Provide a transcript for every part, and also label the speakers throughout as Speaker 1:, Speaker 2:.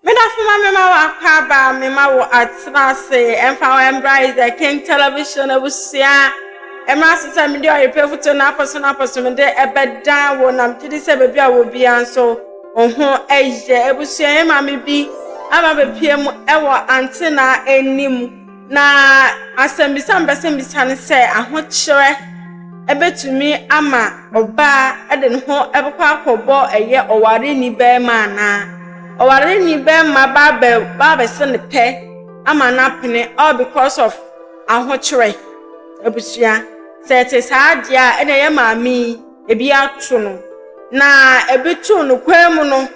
Speaker 1: Me dafo ma me ma wakɔ aba me ma wɔ atena ase ɛmfa wɔ ɛmbra is the king television abusua ɛmra ase sɛ mede ɔyepɛ foto na apɔso na apɔso mede ɛbɛdan wɔ nam gyidi sɛ baabi a wɔ bia nso ɔho ɛyɛ abusua yɛ ma me bi ama bɛpie mu ɛwɔ antena anim Na asɛmbisa a mebɛsan bisa no sɛ ahokyerɛ bɛtumi ama ɔbaa de ne ho bɛkɔ akɔbɔ ɛyɛ ɔwareni bɛrima anaa? Ɔwareni bɛrima ba abɛ ba abɛsɛ ne pɛ ama no apene all because of ahokyerɛ abusua. Sɛ ɛte saa deɛ a ɛna ɛyɛ maame yi ebi ato no na ebi to no kwan mu no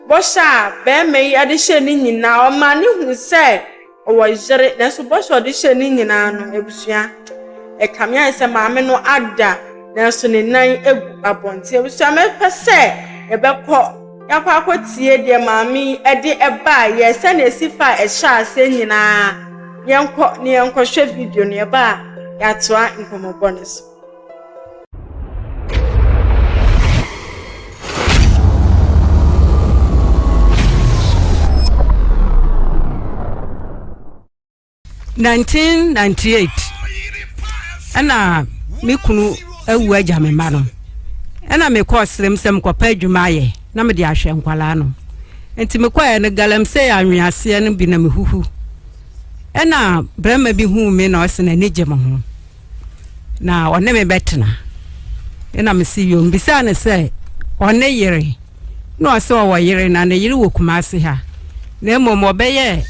Speaker 1: bɔhyɛ a bɛrima yi de hyɛ ne nyinaa ɔma no hu sɛ. Ɔwɔ yere, nanso bɔhyɛ a ɔde hyɛɛ ne nyinaa no, abusua, ɛkame ayɛ sɛ maame no ada, nanso ne nan agu abɔnten. Abusua, mɛpɛ sɛ yɛbɛkɔ, yɛakɔ akɔtie deɛ maame yi de baeɛ, sɛdeɛ ɛsi faa ɛhyɛ aseɛ nyinaa. Yɛnkɔ na yɛnkɔhwɛ video no, yɛba a, yɛatoa nkɔmmɔbɔ no so.
Speaker 2: Nineteen ninety eight, ɛna me kunu awu agya me mma no ɛna mekɔ serem sɛ mekɔpɛ adwuma ayɛ na mede ahwɛ nkwalaa no nti mekɔɛ no galamsey anweaseɛ no bi na mehuhu ɛna barima bi huu me na ɔse n'ani gye me ho na ɔne me bɛtena ɛna mese yom bisaa no sɛ ɔne yere na ɔsɛ ɔwɔ yere na ne yere wɔ kumase ha na mmom ɔbɛyɛ eh,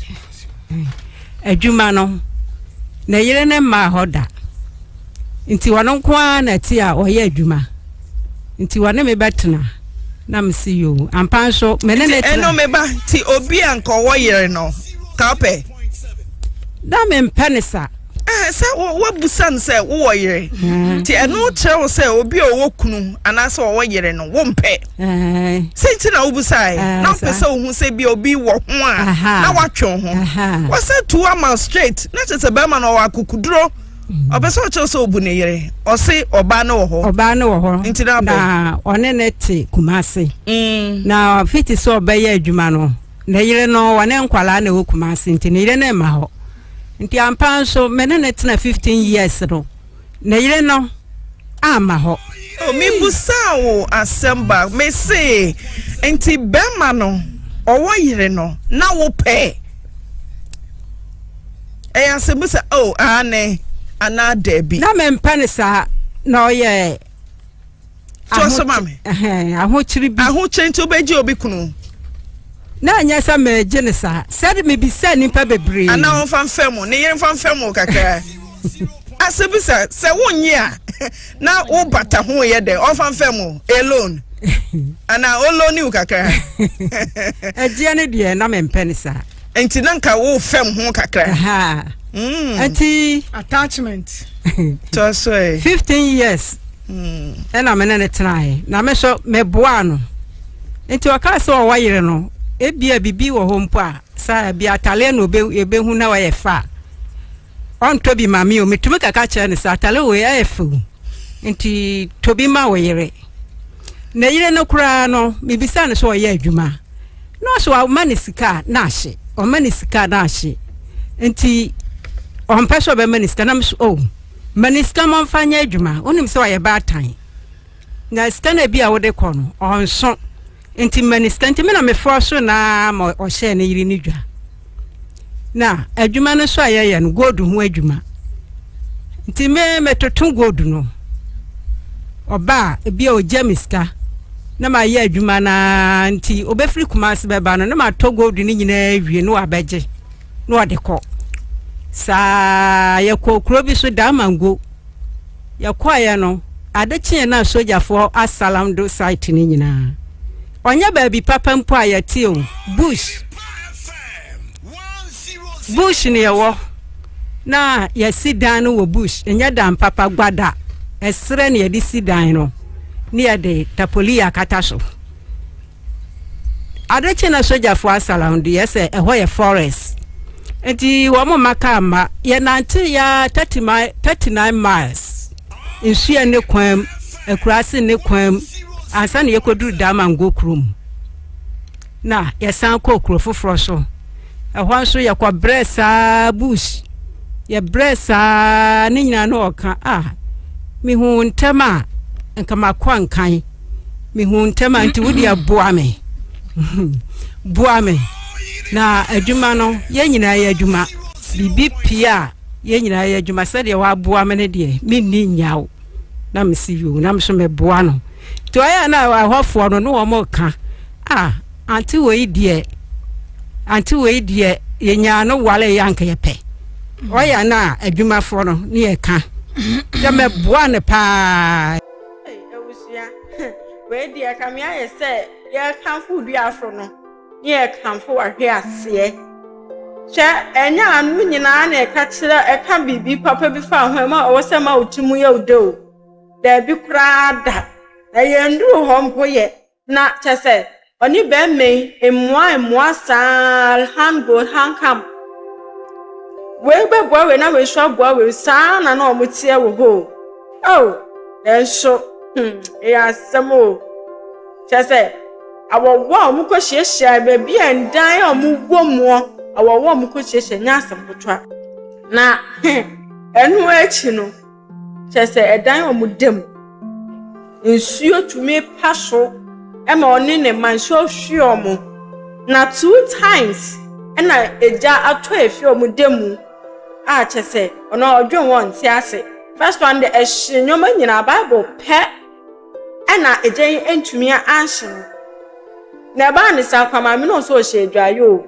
Speaker 2: adwuma no na yere ne mmaa hɔ da nti ɔno nko ara na ti a ɔyɛ adwuma nti ɔne me bɛtena na mese yo ampa nso mene ne tena ɛno meba nti
Speaker 3: obi a nkɔwɔ yere no ka wopɛ
Speaker 2: na mempɛ ne sa sɛ
Speaker 3: woabisa no sɛ wowɔ yere mm-hmm. nti ɛno kyerɛ wo sɛ obi a ɔwɔ kunu anaasɛ ɔwɔ yere no wompɛ sɛ nti na wobisae na wopɛ sɛ wohu sɛ bia obi wɔ ho a na woatwe ho wɔsɛ tu ama straight na kyerɛ sɛ bɛrima no ɔwɔ akokoduro mm-hmm. ɔpɛ sɛ ɔkyerɛ sɛ ɔbu ne yere ɔse ɔbaa no wɔ hɔ ɔbaa no wɔ hɔ nti na na ɔne ne te
Speaker 2: kuma ase mm. na fiti sɛ ɔbɛyɛ adwuma no ne yere no ɔne nkwalaa na ɛwɔ kuma ase nti ne yere no mma hɔ Nti ampa nso me ne ne tena fifteen years no ne yere no amma hɔ. Oh, me busaa
Speaker 3: wo asɛm ba me se nti bɛma no ɔwɔ yere no na wo pɛ ɛyɛ asɛm bu sɛ oh aane anaa daabi. Na me mpɛ ne saa
Speaker 2: na ɔyɛ.
Speaker 3: to so ma me ahokyere bi
Speaker 2: ahokyere nti wobɛgye obi
Speaker 3: kunu na
Speaker 2: anyɛ sɛ megye ne saa sɛde mebisa nnipa bebree ana wɔmfa mfa mu
Speaker 3: ne yere mfa mfa mu kakra asɛ bi sɛ sɛ wonnye a na wobata ho yɛ dɛ ɔmfa mfa mu alone ana olone wo kakra
Speaker 2: ɛgyeɛ ne deɛ na mempɛ ne saa nti na nka
Speaker 3: wo fam ho kakra. Mm.
Speaker 2: Ati. Attachment.
Speaker 3: Tɔsɔɛ. Fifteen years.
Speaker 2: Mm. Ɛna me ne ne tenae na me nso meboa no nti ɔka sɛ ɔwɔ yere no ebia bibi wɔ hɔ mpo a saa ebi ataleɛ na ebe ebehu na ɔyɛ fa. ɔntɔ bi ma me o metumi kaka kyerɛ no sɛ atare wei ayɛ fɛ o nti tɔ bi ma wo yere na yere no koraa no mebisa no sɛ ɔyɛ adwuma na ɔsɛ ɔma ne sika na ahye ɔma ne sika na ahye nti ɔmpɛ sɛ ɔbɛma ne sika na meso o oh, ma ne sika ma ɔmfa nyɛ adwuma wonim sɛ ɔyɛ baatan na sika no bi a wode kɔ no ɔnso Nti minista nti me na mefɔɔ so naa ma ɔhyɛɛ ne yere no dwa. Na adwuma no nso a yɛyɛ no gold ho adwuma. Nti me metoto gold no. Ɔba a ebi a ɔgya me sika na mayɛ adwuma no nti ɔbɛfiri kuma ase bɛba no na matɔ gold no nyinaa wie na wabɛgye na ɔde kɔ. Saa yɛkɔɔ kuro bi so Damango. Yɛkɔeɛ no, ade kyeeɛ no a sogyafoɔ asalam do site no nyinaa. Ɔnyɛ baabi papa mpo a yɛte o, bush. Bush na yɛwɔ na yɛasi dan no wɔ bush. Ɛnyɛ dan papa, gwada, ɛserɛ na yɛde si dan no na yɛde tapolii akata so. Ade kye na sogyafo asalaw de yɛ sɛ ɛhɔ yɛ forest. Nti wɔn mma kaa mma. Yɛnantew ya 30 mile 39 miles nsu a ne kwan mu, akuraase ne kwan mu ansa na yɛkɔduru Damango kuro mu. Na yɛsan kɔɔ kuro foforɔ so. Ɛhɔ nso yɛkɔ brɛ saa bush. Yɛbrɛ saa ne nyinaa na ɔka a ah, mehu ntɛm a nka makɔ nkan. mehu ntɛm a nti wodeɛ boa me boa me na adwuma no yɛn nyinaa yɛ adwuma biribi pii a yɛn nyinaa yɛ adwuma sɛdeɛ waboa me no deɛ menni nyaw na mesi yo na meso meboa no nti ɔyɛ na ɛhɔfoɔ no ne wɔn ka a ante wei deɛ ante wei deɛ yɛnyaa no wale yɛ anka yɛpɛ ɔyɛ na adwumafoɔ no ne yɛka sɛ mɛboa no paa Ei abusua
Speaker 1: wei deɛ ɛkame ayɛ sɛ yɛkamfo duafo no ne yɛkamfo wahwe aseɛ kyɛ ɛnyɛ ano nyinaa na ɛka kyerɛ ɛka biribi papa bi fa ho ɛma ɔwɔ sɛ ma wo ti mu yɛ wo dɛ o daabi koraa da na yɛnduru hɔ mpo yɛ Na kyerɛ sɛ, ɔne bɛrima yi mmoa mmoa saa ara, hand gold, hand cam. Wei bɛboa wei na wei nso aboa wei, saa ara na na wɔteɛ wɔ hɔ o. Oh, nanso, hmm, ɛyɛ asɛm o. Kyerɛ sɛ, awɔwɔ a wɔkɔhyiahyia baabi a ndan a wɔwɔ muɔ, awɔwɔ a wɔkɔhyiahyia nyɛ asɛm ketewa. Na ɛno akyi no, kyerɛ sɛ ɛdan wɔn da mu. Nsuo tumi pa so ma ɔne ne mma nsuo hwe wɔn. Na two times na egya atɔ afiri wɔn da mu a kyerɛ sɛ ɔno a ɔdwen wɔn nte ase. First one deɛ ɛhye nneɛma nyinaa Bible pɛ ɛna egya yi ntumi anhye no. Na ɛbaa ne saa kwa maame no nso ɔhyɛ adwaeɛ o.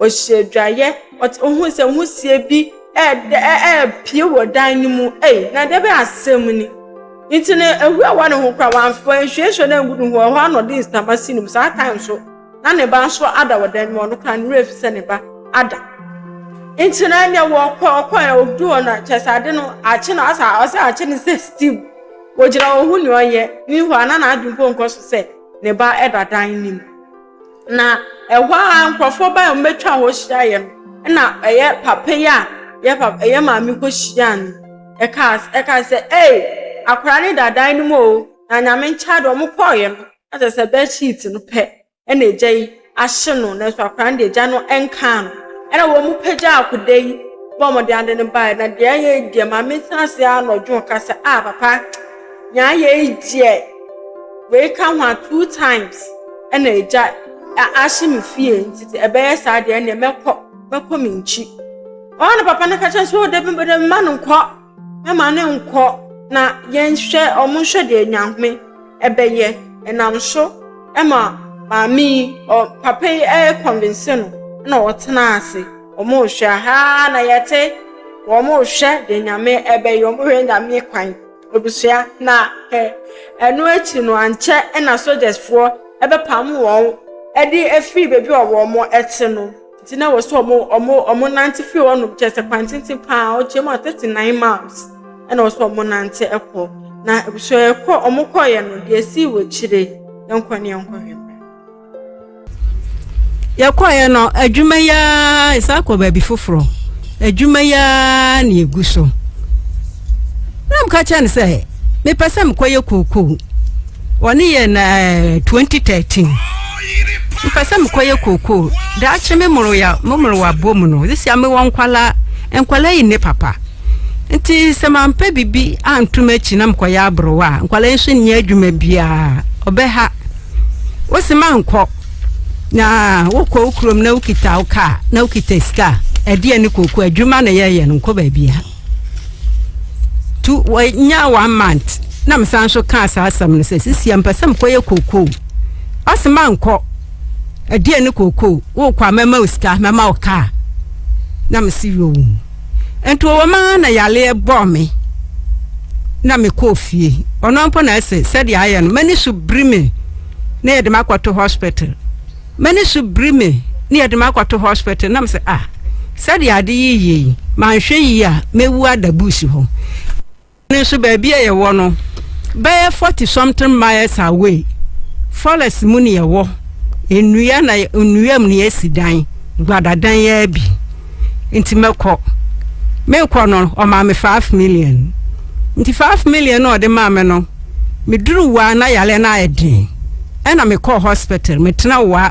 Speaker 1: Ɔhyɛ adwaeɛ, ɔte ohun sɛ wusie bi ɛɛdɛ ɛɛpie wɔ dan no mu. Ei, na ɛdɛ bɛn asɛm ni! Nti no, ehu ɛwɔ ne ho koraa, wamf wanhwiehwie no angu ne ho. Ɛhɔ ara na ɔde nsama si ne mu. Saa time nso, na ne ba nso ada wɔ dan no mu. Ɔno koraa, ne werɛ afi sɛ ne ba ada. Nti no, ɛnneɛ wɔkɔ ɔkɔ ɛ ɔdu hɔ no, kyerɛ sɛ ade no akye no asa ɔsɛ akye no sɛ still wɔgyina hɔ hu nea ɔyɛ. Meanwhile, na n'adwene mpo nkɔ so sɛ ne ba ɛda dan no mu. Na ɛhɔ a nkurɔfoɔ baa mu bɛtwa hɔ hyiaeɛ no, ɛna ɛyɛ papa yi a yɛ papa yɛ maame kɔ hyia no ɛkaa ɛkaa sɛ ee akwadaa ne dadan no mu o na nyame nkyɛn adeɛ wɔn kɔɔeɛ no ɛsɛ sɛ bed sheet no pɛ ɛna agya yi ahye no nanso akwadaa no deɛ agya no nkaa no ɛna wɔn pagya akwadaa yi bɔ wɔn de ade no baeɛ na deɛ ɛyɛ deɛ maame san ase anɔdwo kasa a papa. Nea yei deɛ wei ka ho a two times ɛna agya ahye me fie nti te ɛbɛyɛ saa deɛ ɛneɛ mɛkɔ mɛkɔ me nkyi ɔwɔ na papa no ka kyɛn so dabi bɛdɛ mma no nkɔ mɛma no nkɔ na yɛnhwɛ ɔmo nhwɛ deɛ nyame ɛbɛyɛ ɛnam so ɛma maame yi ɔ papa yi ɛyɛ kɔnvinse no na ɔtena ase ɔmo hwɛ ha na yɛte wɔn hwɛ deɛ nyame ɛbɛyɛ ɔmo hwɛ nyame kwan. abusua, na ɛno akyi no ankyɛ na sogyasfoɔ bɛpam wɔn de afiri baabi a wɔte no. Nti na ɛwɔ sɛ wɔnante firi hɔnom, kyerɛ sɛ kwan tenten paa, ɔkyerɛ mu a thirty nine miles na ɛwɔ sɛ wɔnante kɔ. Na abusua yɛkɔ wɔkɔeɛ no, deɛ ɛsii wɔ akyire, yɛnkɔ ne yɛnkɔhwɛ.
Speaker 2: yɛkɔeɛ no adwuma yi ara ɛsan kɔ baabi foforɔ adwuma yi ara na ɛgu so na mka kyerɛ no sɛ mepɛ sɛ mekɔyɛ kookoo wɔne yɛ na 2013 mepɛ sɛ mekɔyɛ kookoo daakye me mmoroya me mmorowa bɔ mu no sisi a mewɔ nkwala nkwala yi ne papa Nti sɛ mampɛ biribi anto m'akyi na mekɔyɛ aborowa a, nkwadaa nso nni adwuma biara, ɔbɛha. Wose mankɔ na wokɔ wo kurom na wokita wo kaa na wokita sika a, ɛdeɛ ne koko adwuma na yɛyɛ no nkɔ baabia. Tu wɔnya one month na mesan nso kaa saa asɛm no sɛ sisi a mpɛ sɛ mekɔyɛ koko. Ɔse mankɔ ɛdeɛ ne koko wokɔ a mɛma wo sika mɛma wo kaa na mese yoo. nti wɔwɔ mu ara na yareɛ bɔɔ me na mekɔɔ fie ɔno mpo na ɛsɛ sɛdeɛ ayɛ no m'ani so biri me na yɛde me akɔto hospital m'ani so biri me na yɛde me akɔto hospital nam sɛ ah sɛdeɛ ade yi yie yi manhwɛ yie a mɛwu ada buusi hɔ no nso baabi a yɛwɔ no bɛyɛ forty something miles away forest mu na yɛwɔ nnua na nnua mu na yɛsi dan gbadadan yɛ bi nti mɛkɔ mekɔ no ɔmaa me five million nti five million na ɔde maa me no meduru waa na yare no ayɛ den ɛna mekɔɔ hospital metena waa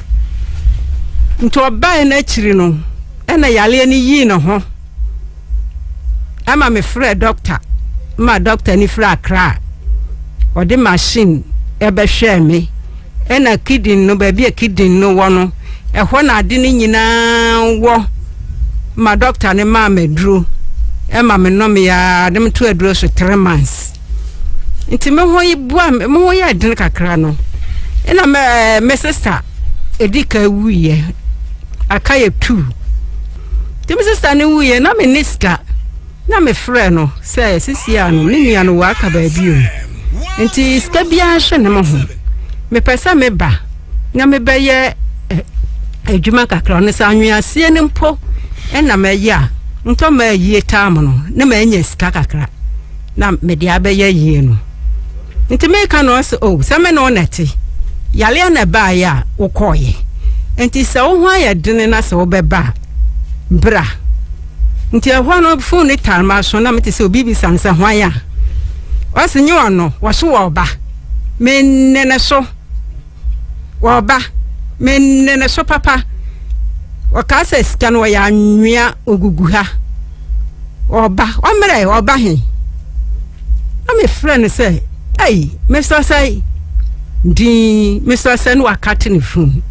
Speaker 2: Nti ɔbae no akyiri no na yareɛ no yii ne ho ma mefrɛɛ dɔkta ma dɔkta no firi Accra a ɔde machine ɛbɛhwɛɛ me ɛna kidney no baabi a kidney no wɔ no ɛhɔ na ade no nyinaa wɔ ma dɔkta no maa me aduro ɛma me nɔmeɛ a de meto aduro so three months. nti me ho yi bua me ho yɛ den kakra no ɛna me eh, me sista edi ka wuyɛ aka yɛ tu nti me sista no wuyɛ na me ne sika na me frɛ no sɛ sisi a no me nua no wɔ aka baabi o nti sika biara hyɛ ne mo ho mepɛ sɛ meba na mebɛyɛ eh, adwuma kakra no sɛ anweaseɛ no mpo ɛna mɛyɛ a ntɔ ma ayie tam no na manya sika kakra na mede abɛyɛ yie no nti meka no ɔsɛ o oh, sɛ me ne wo nɛte yareɛ na ɛbaeɛ a wokɔɔyɛ nti sɛ wo ho ayɛ dene na sɛ wobɛba a bra nti ɛhɔ no fon ne tare ma so na mete sɛ obi bisa me sɛ hwan a ɔse nye ɔno wɔso wɔ ɔba menne ne so Wɔba, me ne no so papa. Wɔkaa sɛ sika no wɔyɛ anwea ogugu ha. Wɔba, ɔmmerɛ, wɔba he. Na mefrɛ no sɛ, ei, mesrɛ sɛ din, mesrɛ sɛ ne waka te ne funu.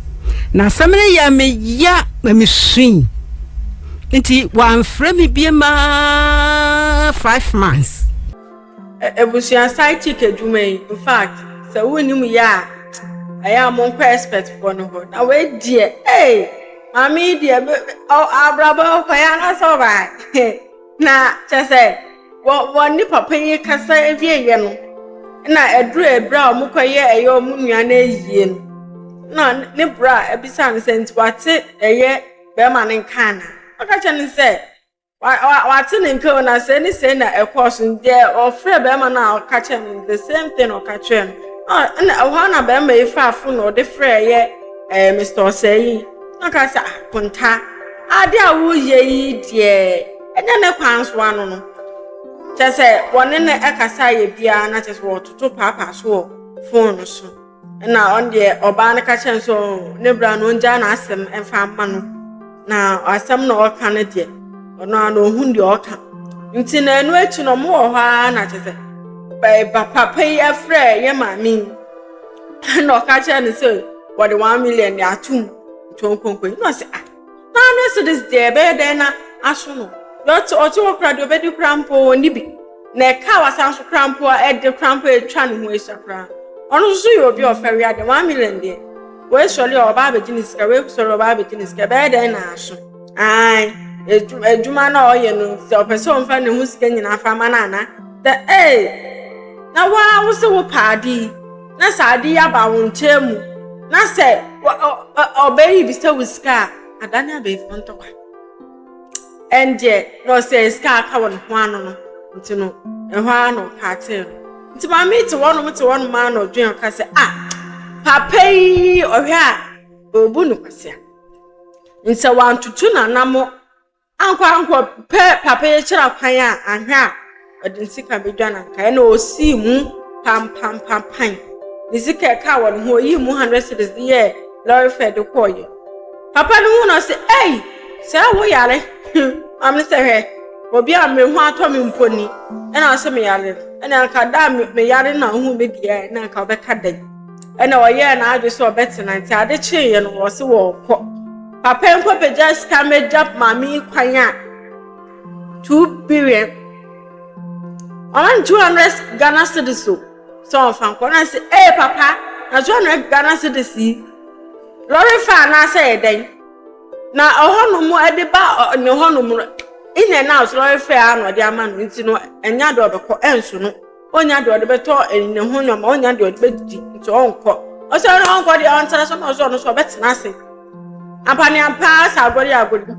Speaker 2: Na asɛm no yɛ meya ma mesui. Nti wɔamfrɛ me bie maa five months.
Speaker 1: Abusua side chick adwuma yi in fact sɛ wonim yɛ a ɛyɛ a monkɔ expert foɔ no hɔ na wei deɛ ee maame yi deɛ abrabɔ kɔ yɛ anasɛ ɔbaa na kyɛ sɛ wɔn ne papa yi kasa ewie yɛ no na ɛduru ebere a wɔkɔ yɛ ɛyɛ wɔn nua no ayie no na ne bra abisa no sɛ nti wate ɛyɛ bɛrima no nka ana ɔka kyerɛ no sɛ. Wate ne nka o na sɛ ne sɛ na ɛkɔɔ so deɛ ɔfrɛ bɛrima no a ɔka kyerɛ no the same thing ɔka kyerɛ no ɛna ɛhɔ na bɛrima yi fa afo na ɔde frɛ yɛ ɛɛ mr ɔsɛɛ yi na ɔka sɛ akonta ah, ade a woyɛ yi deɛ ɛnyɛ ne kwan so ano no kyɛ sɛ wɔne no ɛkasa yɛ biara na kyɛ sɛ wɔtoto paapaa so wɔ fon no so. ɛna ɔno deɛ ɔbaa no ka kyerɛ no sɛ ne bra no ɔngyaa n'asɛm ɛmfa mma no na asɛm na ɔka no deɛ ɔno a na ɔhunu deɛ ɔka nti na ɛno akyi no ɔmo wɔ hɔ ara na kyɛ sɛ ba papa yi afrɛ yɛ maame yi ɛna ɔka kyerɛ no sɛ wɔde one million de atom nti ɔnkɔ nkɔyi na ɔsɛ ah Ná Mercedes deɛ, ɛbɛyɛ dɛn na aso no? Deɛ ɔte ɔte hɔ koraa, deɛ ɔbɛdi koraa mpo, ɔnni bi. Na ɛkaa wasan so koraa mpo a, ɛde koraa mpo a, ɛtwa ne ho ahyia koraa. Ɔno nso so yɛ obi a ɔfa wia deɛ, one million deɛ, wei sɔre a, ɔba abɛgye ne sika, wei sɔre a, ɔba abɛgye ne sika. Ɛbɛyɛ dɛn na aso? Ae, adwuma, adwuma no a ɔyɛ no, sɛ ɔpɛ sɛ ɔmfa ne ho sika nyinaa fa ma no anaa? Sɛ, ee, na wo ara wo se wopɛ ade yi. na sɛ ade yi aba wo nkyɛn mu na sɛ ɔbɛyɛ yi bi sɛ wo sika a adane abɛɛfo ntɔkwa ɛndeɛ na ɔsɛ sika aka wɔ ne ho ano no nti no ɛhɔ ara na ɔka atee no nti maame te wɔnom te wɔnom ara na ɔdwen ɔka sɛ ah papa yi ɔhwɛ a ɔbu no kwasea nsɛ wantoto nanamo Ankorankor pɛ papa yi kyerɛ kwan a anhwɛ a ɔde ne sika bedwa no anka ɛna osii mu pampampapan. Ne sika ɛka wɔ ne ho oyii mu hundred cedis de yɛɛ lɔre fare de kɔɔeɛ. Papa no hu na ɔse ei sɛ wo yare maame no sɛ hwɛ obi a me ho atɔ me mpo ni ɛna ɔse me yare no ɛna anka da a me yare na ohuu me deɛ na anka ɔbɛka dɛn. ɛna ɔyɛɛ n'adwe sɛ ɔbɛtena nti ade kyeeɛ no wɔse wɔɔkɔ papa nkɔ bɛgya sika mɛgya maame yi kwan a 2 billion 200 Ghana cedis o sɛ ɔmfa nkɔ na sɛ ee papa na 200 Ghana cedis yi lɔre fa anaasɛ yɛ dɛn na ɔhɔnom ɛde ba ne hɔnom no in and out lɔre fɛ a na ɔde ama no nti no ɛnya de ɔbɛkɔ ɛnso no Ɔnya deɛ ɔde bɛtɔ ne ho nneɛma ɔnya deɛ ɔde bɛdidi nti ɔnkɔ ɔsɛ no ɔnkɔ deɛ ɔntena so na ɔsɛ ɔno so ɔbɛtena ase apaneampa sɛ agɔre agɔre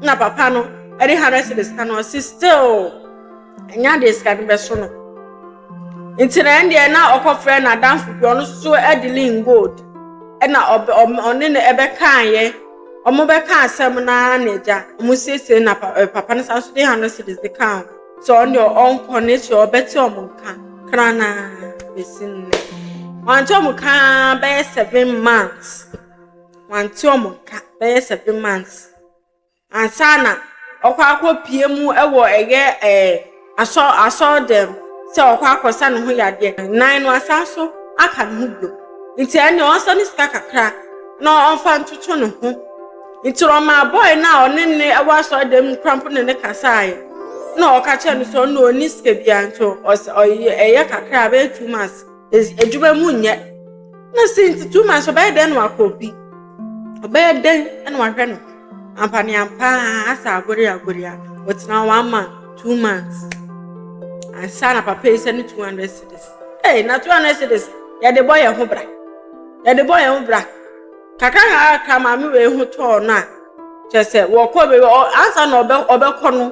Speaker 1: na papa no ɛde hundred cedis ka no ɔsi still ɛnya deɛ sika no bɛso no nti na ɛndeɛ na ɔkɔfrɛ na adanfo bi ɔno so ɛde lin gold ɛna ɔbɛ ɔne no ɛbɛkaayɛ ɔmo bɛka asɛm naa na agya ɔmo siesie na papa no san so de hundred cedis de kaa ho. sɛ ɔno deɛ ɔnkɔ ne sɛ ɔbɛte wɔn nka kranaa bɛsi nnɛ wante wɔn nka bɛyɛ seven months wante wɔn nka bɛyɛ seven months ansa na ɔkɔ akɔ pie mu wɔ ɛyɛ ɛɛ asɔ asɔ dɛm sɛ ɔkɔ akɔsa ne ho yadeɛ nan no asan so aka ne ho bio nti ɛnna ɔnsa ne sika kakra na ɔnfa ntoto ne ho. Ntsi ɔmaa bɔy no a ɔne no wɔ asɔrdan mu koraa mpo ne no kasae, nna ɔka kyerɛɛ no sɛ ɔno dɛ onnyi sika biara ntsi ɔsɛ ɔyɛ kakra a bɛyɛ two months edwuma mu nnyɛ. Nna sei ntsi two months ɔbɛyɛ dɛn na ɔakɔ obi? Ɔbɛyɛ dɛn na ɔahwɛ no? Ampaneampaa asɛ agoreagore a, ɔtsenaa hɔ one month, two months ansaana papa yi sɛ no two hundred cedis. Ei, na two hundred cedis yɛde bɔ hɛnho bra, yɛde bɔ hɛnho bra. kakra kakra maame wei ho tɔɔ no a kyɛ sɛ wɔkɔ baabi ansa na ɔbɛ ɔbɛkɔ no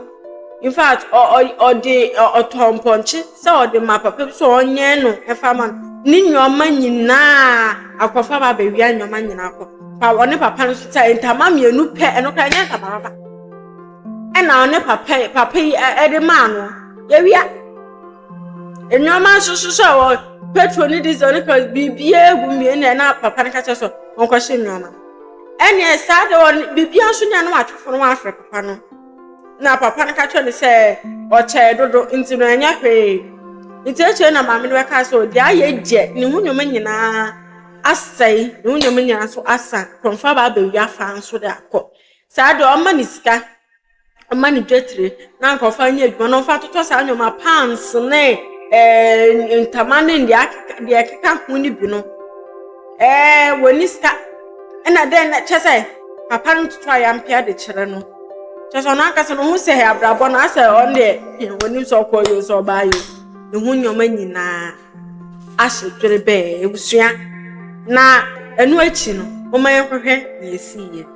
Speaker 1: in fact ɔde ɔtɔ mpɔnkye sɛ ɔde ma papa bi sɛ ɔnyɛn no ɛfa ma no ne nneɛma nyinaa akɔfa ba abɛwia nneɛma nyinaa kɔ pa ɔne papa no sɛ ntama mmienu pɛ ɛno koraa nyɛ ntama papa ɛna ɔne papa papa yi ɛde maa no yɛwia. Nneɛma nso soso a wɔn petrol ne diesel ne kɔs biribiara gu mmea na na papa no ka kyerɛ sɛ wɔnkɔhyɛ nneɛma ɛnneɛ saa de wɔn biribiara nso nea na watwefo no wafrɛ papa no na papa no ka kyerɛ no sɛ ɔkyɛɛ dodo nti no ɛnyɛ hwee nti akyire na maame no bɛka sɛ ɔde ayɛ gyɛ ne ho nneɛma nyinaa asɛe ne ho nneɛma nyinaa nso asa kɔmfa ba abɛwia fa nso de akɔ saa de ɔma ne sika mma no dwetire na anka ɔfa nyɛ adwuma na ɔfa totɔ saa nneɛma pants ne ɛɛ eh, ntama ne deɛ akeka deɛ ɛkeka ho no bi no ɛɛ eh, wɔni sika ɛna dɛn na kyɛ sɛ papa no toto a yampea de kyerɛ no kyɛ sɛ ɔno ankasa no ho sɛ abrabɔ no asɛ ɔno deɛ wɔnim sɛ ɔkɔ yio sɛ ɔbaa yio ne ho nneɛma nyinaa ahyɛ dwere bɛɛ ebusua na ɛno akyi no wɔn yɛn kɔhwɛ na esi yɛ.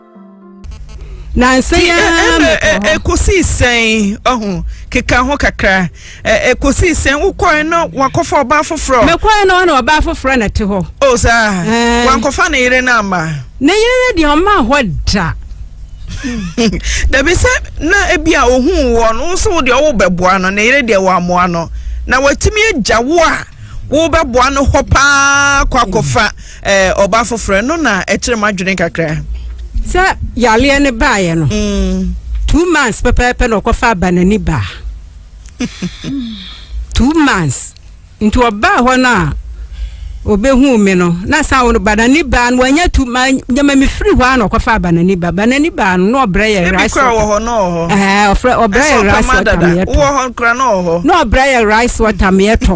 Speaker 2: nansa yi ara mekɔ hɔ. ekosii
Speaker 3: sɛn ɔho keka ho kakra ekosii sɛn wokɔɛ no wakɔfa ɔbaa foforɔ. mekɔɛ no ɔna ɔbaa
Speaker 2: foforɔ na ɛte hɔ. o saa
Speaker 3: wankɔfa ne yere no ama. ne yere no deɛ
Speaker 2: ɔmaa hɔ da.
Speaker 3: dabi sɛ na ebi a ohun wɔ no nso wo deɛ ɔwo bɛboa no ne yere deɛ wɔamoa no na watumi agya wo a wobɛboa no hɔ paa kɔ akɔfa eh, ɔbaa foforɔ ɛno na ɛkyerɛ mu adwene kakra sɛ
Speaker 2: yareɛ no baeɛ no mm. two months pɛpɛɛpɛ na ɔkɔfa aba n'ani baa two months nti ɔbaa hɔ no a obehu mi no na san wɔn banani baa no wɔnyɛ tu ma nyɛma mi firi hɔ a na ɔkɔfa banani baa banani baa no na ɔbrɛ yɛ rice water ebi kura wɔ hɔ na ɔhɔ ɛɛ ɔfrɛ ɔbrɛ yɛ rice water mi yɛ tɔ
Speaker 3: na ɔbrɛ yɛ rice
Speaker 2: water mi yɛ tɔ.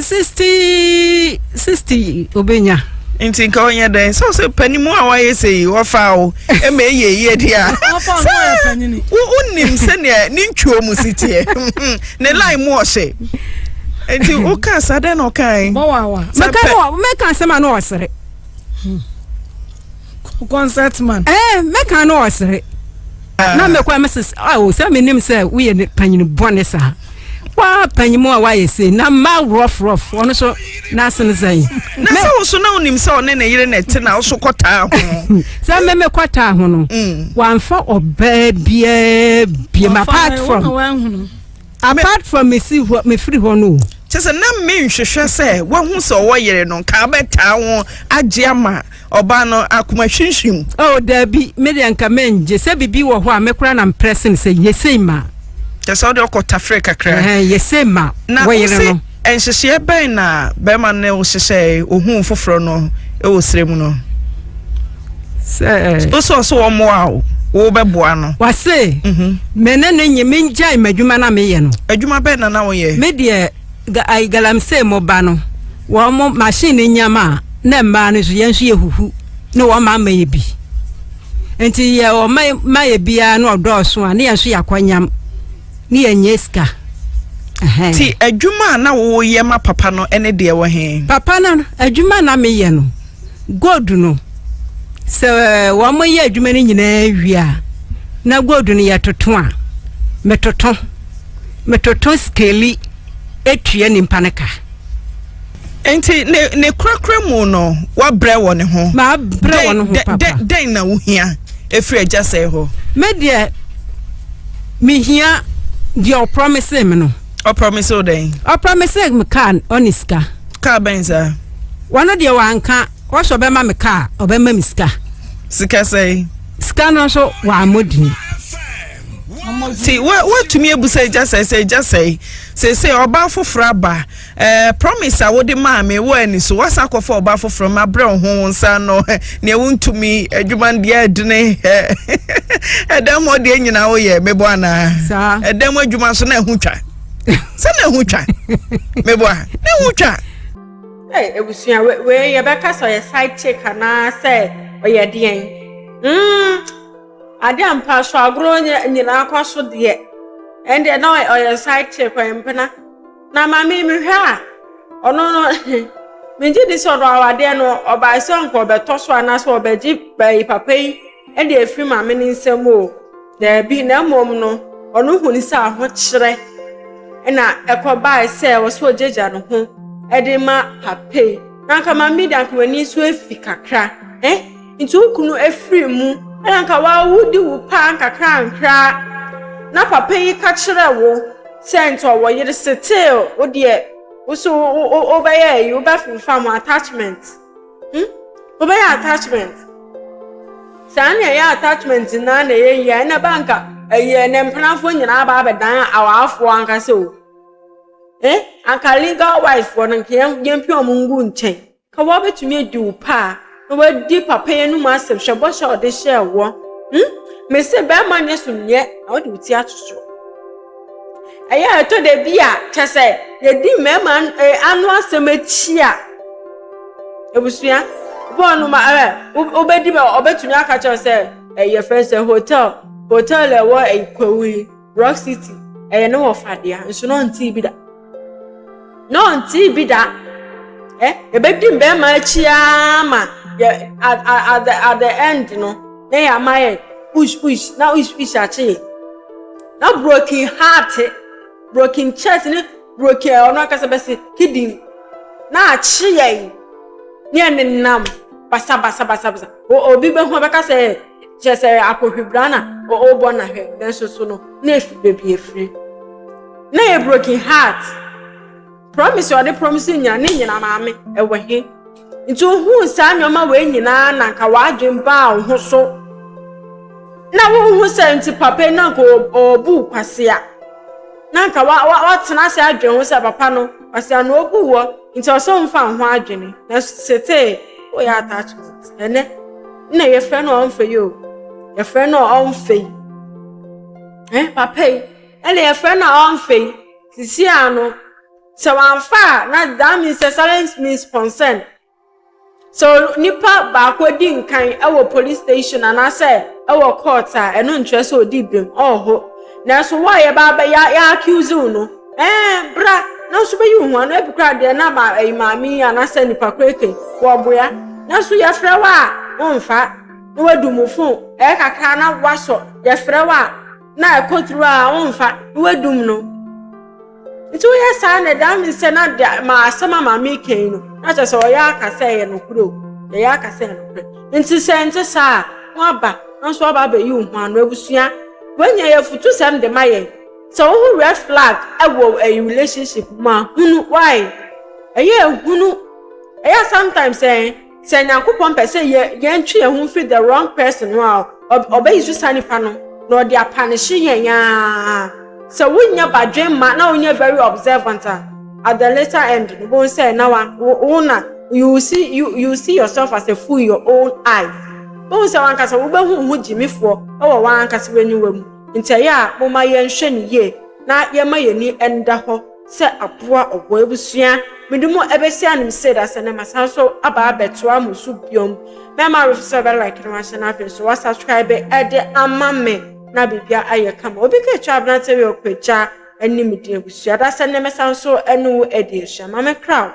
Speaker 3: sixty
Speaker 2: sixty obenya. nti nka ɔnyɛ
Speaker 3: dɛn sɛ sɛ panimu a wayɛ sɛ yi wɔfa wo ma ɛyɛ yie deɛ a wonim sɛdeɛ ne ntwuo mu si teɛ ne line mu ɔhyɛ nti woka sa dɛn na ɔkae
Speaker 2: mɛka asɛm a na ɔsere
Speaker 3: concert man. ɛɛ mɛka no ɔsere
Speaker 2: na mɛkɔ ɛmɛ sɛ awo sɛ mi nim sɛ woyɛ ne panyin bɔne saa waa panyin mu a wayɛ sei na mmaa rough rough ɔno so n'asene sɛn. na sɛ woso na
Speaker 3: onim sɛ ɔne ne yere na ɛte na ɔso kɔtaa ho. sɛ mɛmɛ
Speaker 2: kɔtaa ho no mm. wanfa ɔbaa biara biam apart from. Apart from me si hɔ me firi hɔ no o. Kyerɛ sɛ na me
Speaker 3: nhwehwɛ sɛ wahu sɛ ɔwɔ yere no nka abɛtaa ho agye ama ɔbaa no akoma hwimhwim. Oh daabi me
Speaker 2: deɛ nka mɛ ngye sɛ bibi wɔ hɔ a me koraa na mprɛse no sɛ yesei ma. Kyerɛ sɛ wode
Speaker 3: ɔkɔ tafere kakra. Ɛhɛn yesei ma
Speaker 2: wo yere no.
Speaker 3: Nhyehyɛɛ bɛn na bɛrima no hyehyɛɛ ohuu foforɔ no wɔ serɛ mu no? Sɛ. Wosɛ ɔsɛ wɔn mmoa o, wobɛboa no. Wase,
Speaker 2: mhm. me ne no nye me ngyae m'adwuma na meyɛ no. Adwuma bɛn na na woyɛ?
Speaker 3: Me deɛ
Speaker 2: ai galamsey mo ba no, wɔn mo machine no nyam a, na mmaa no nso yɛn nso yɛhuhu na wɔn ma ama yɛ bi. Nti yɛ wɔn ma yɛ biara na ɔdɔɔso a, ne yɛn nso yɛakɔ nyam. Ne yɛ nyɛ sika.
Speaker 3: Ti adwuma a na wo yɛ ma papa no ɛne deɛ wɔ he? Papa no adwuma
Speaker 2: na me yɛ no gold no sɛ wɔn mo yɛ adwuma no nyinaa wie a na gold no yɛ toto a me toto me toto skeli etua nipa no ka.
Speaker 3: Nti ne ne korakora mu no wabrɛ wɔ ne ho. Mabrɛ wɔ ne ho
Speaker 2: papa. Dɛn na wohia
Speaker 3: efiri agya sɛe hɔ? Me deɛ
Speaker 2: mehia deɛ ɔprɔmise me no. Ɔprɔmise wo dɛn?
Speaker 3: Ɔprɔmise me
Speaker 2: kaa ɔne sika. Kaa bɛn saa?
Speaker 3: Wɔno deɛ
Speaker 2: wanka wɔsɛ ɔbɛma me kaa ɔbɛma me sika. Sika sɛe?
Speaker 3: Sika no nso
Speaker 2: wammɔ dini.
Speaker 3: Ti woatumi abusa agya sɛe sɛ agya sɛe sɛ sɛ ɔbaa foforɔ aba Eh promise a wode maa me wɔ ani so wasa akɔfa ɔba foforɔ ma brɛ wo ho wo nsa no neɛ wontumi adwuma no deɛ ɛdene ɛdam hɔ deɛ nyinaa woyɛ meboa anaa ɛdam adwuma so na ɛho twa sɛ na ɛho twa meboa na ɛho twa
Speaker 1: abusua wei yɛbɛka sɛ ɔyɛ side chick anaa sɛ ɔyɛ deɛn hmm, ade ampa so agorɔ nyinaa kɔ so deɛ ɛndeɛ na ɔyɛ side chick ɔyɛ mpena na ma me mehwɛ a ɔno no megye di sɛ ɔno awadeɛ no ɔbae sɛ nka ɔbɛtɔ so anaasɛ ɔbɛgye baayi papa yi de afiri ma me ne nsɛm o daabi na mmom no ɔno huni sɛ ahokyerɛ na ɛkɔbae sɛ ɛwɔ sɛ ɔgyagya ne ho de ma papa yi na nka ma me de anka m'ani nso afi kakra eh Nti wo kunu afiri mu. Ɛna anka wawo di wo paa nkakrankra na papa yi ka kyerɛ wo sɛ nti ɔwɔ yere still wo deɛ wo so wo bɛyɛ ayi wo bɛ fimfa mo attachment hmm wo bɛyɛ attachment saa na ɛyɛ attachment na na ɛyɛ yie ɛna ba nka ɛyɛ ne mpenafoɔ nyinaa ba abɛdan awaafoɔ ankasa o eh anka legal wife fɔ no nka yɛn yɛn pia ɔmo ngu nkyɛn. Ka w'abɛtumi adi wo pɛ a, na w'adi papa yi anum asɛm, hwɛ bɔhyɛ a ɔde hyɛɛ woɔ, hmm? Mese bɛɛma nyɛ summiɛ, na wode wo ti ato so. Ɛyɛ a ɛtɔ da bi a, kyɛ sɛ yɛdi mmarima eh, ano asɛm akyi a, abusua, bɔɔ no ma ɛ, wobɛdi bɛ, ɔbɛtumi aka kyɛw sɛ, ɛyɛ fɛn sɛ hotel, hotel ɛwɔ ɛyi kwawu yi, Rock City, ɛyɛ ne wɔfa dea, nso na ɔntee bi da. Na ɔntee bi da. Ɛ, yɛbɛdi mbɛɛma akyi ara ma yɛ at at the at the end no, na yɛ ama yɛ ush ush na ush ush akye yɛ. Na broken heart, broken chest ne broken ɔno ankasa bɛsi kidney na akye yɛ. Ne yɛ nenam basa basa basa basa. Obi bɛhu ɔbɛka sɛ. kyerɛ sɛ akohwibra na ɔrebɔ no ahwɛ nanso so no na efi baabi efiri na yɛ broken heart promise a ɔde promise nyina ne nyina maame ɛwɔ he nti ohun saa nneɛma wei nyinaa na nka w'adwen baa wo ho so na wohu sɛ nti papa na nka ɔbu kwasea na nka watena ase adwen ho sɛ papa no kwasea no obu wɔ Nti ɔsɛ ɔmfa ho adwene na setee woyɛ attachment ɛnɛ na yɛfrɛ no ɔmfɛ yi o yɛfrɛ no ɔmfɛ yi ɛ papa yi ɛna yɛfrɛ no ɔmfɛ yi sisi ano sɛ wamfa a na that means sɛ silence means concern Sɛ onipa baako di nkan wɔ police station anaasɛ wɔ court a, ɛno nkyerɛ sɛ odi bem. Ɔho. Nanso wo a yɛba abɛ ya ya accuse wo no, ɛɛ bra na nso bɛyi wo ho ano. Ebi koraa deɛ na ma ɛyi maame yi anaasɛ nipa koeke wɔboa. Nanso yɛfrɛ wo a womfa na wadu mu fo ɛyɛ kakra na wasɔ. Yɛfrɛ wo a na ɛkɔ through a womfa na wadum no. Nti woyɛ saa na ɛdaa me sɛ na de ma asɛm a maame kan yi no na kyerɛ sɛ ɔyɛ aka sɛ ɛyɛ nokorɛ o yɛyɛ aka sɛ ɛyɛ nokorɛ nti sɛ nte saa a woaba nanso woaba abɛyi wo ho ano abusua woanya yɛ afutu sɛm de ma yɛn sɛ wohu red flag ɛwɔ ɛyi relationship mu a hunu why ɛyɛ ehunu ɛyɛ sometimes ɛn Sɛ Nyankopɔn pɛ sɛ yɛ yɛntwe yɛn ho mfiri the wrong person ho a, ɔbɛyi so saa nipa no na ɔde apanehye yɛn aa. Sɛ wonyɛ badwen ma na wonyɛ very observant a, at the later end no, bohu sɛ na wa wo na you see you you see yourself as a fool in your own eyes. Bohu sɛ wankasa wobɛhu wo ho gyimifoɔ wɔ wankasa w'aniwa mu. Nti ɛyɛ a momma yɛnhwɛ no yie na yɛmma yɛn ani nda hɔ. sɛ aboa ɔwɔ ebusua me do mu ebesi anom sei da sɛ ndɛ masan so aba abɛtoa mo so biom mɛma awofo sɛ ɔbɛ like na wahyɛ na afei so wa subscribe ɛde ama me na biribia ayɛ kama obi ka etwa abrantɛ wei ɔkɔ agya anim din ebusua da sɛ ndɛ mɛsan so ɛne wo adi ahyia ma me kra.